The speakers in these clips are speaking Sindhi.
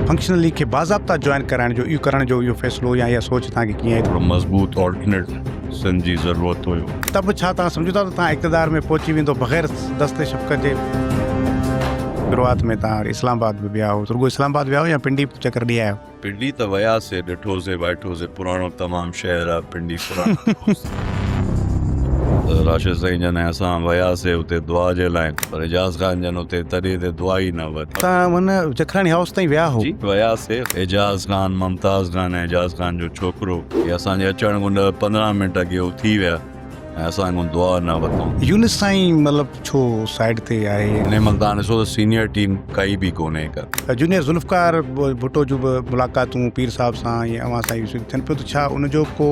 فنڪشنلي کي باضابطا جوائن ڪرائڻ جو اهو ڪرڻ جو اهو فيصلو يا اها سوچ توهان کي ڪيئن هڪڙو مضبوط آلٽرنيٽ سن جي ضرورت هيو. ته به ڇا توهان سمجهو ٿا ته توهان اقتدار ۾ پهچي ويندو بغير دست شفقت جي؟ شروعات ۾ توهان اسلام آباد به ويا هئو رڳو اسلام آباد ويا هئو يا پنڊي به چڪر ڏي آيا هئو؟ پنڊي ته وياسي ڏٺوسي وائٺوسي پراڻو تمام شهر آ پنڊي پراڻو دوست. راشد سائين جن ۽ اسان وياسي اتي دعا جي لاء پر اعجاز خان جن اتي تڏي تي دعا ئي نه ورتي. تان هن جکراڻي هائوس تائين ويا هو. جي وياسي اعجاز خان ممتاز خان ۽ اعجاز خان جو ڇوڪرو هي اسان جي اچڻ کان ڏهه پندرهن منٽ اڳي هو ٿي ويا. ۽ اسان کان دعا نه وتائون. يونس سائين مطلب ڇو سائيڊ تي آهي. انهي مهل تان ڏسو ته سينيئر ٽيم ڪائي به ڪونهي ڪا. جونيئر ذوالفقار ڀٽو جون به ملاقاتون پير صاحب سان ۽ اوهان سان يوسف ٿين پيون ته ڇا ان جو ڪو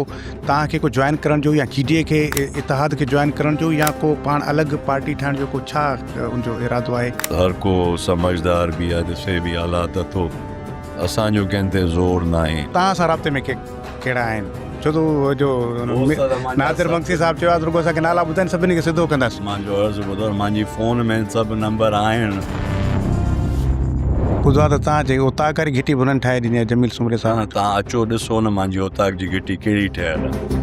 توهان کي ڪو جوائن ڪرڻ جو يا جي ڊي اي کي اتحاد کي جوائن ڪرڻ جو يا ڪو پاڻ الڳ پارٽي ٺاهڻ جو ڪو ڇا ان جو ارادو آهي. هر ڪو سمجهدار به آهي ڏسي به حالات اٿو اسان جو ڪنهن تي زور ناهي. توهان سان رابطي ۾ ڪي. ڪهڙا آهن ڇو ته هو جو ناصر مگسي صاحب چيو آهي رڳو اسان کي نالا ٻڌائين سڀني کي سڌو ڪنداسين مان جو عرض ٻڌو مانجي فون ۾ سڀ نمبر آهن ٻڌو آهي ته تان جي اوطاق واري گهٽي به انهن ٺاهي ڏني آهي جميل سومري صاحب تان اچو ڏسو نه مانجي اوطاق جي گهٽي ڪهڙي ٺهيل آهي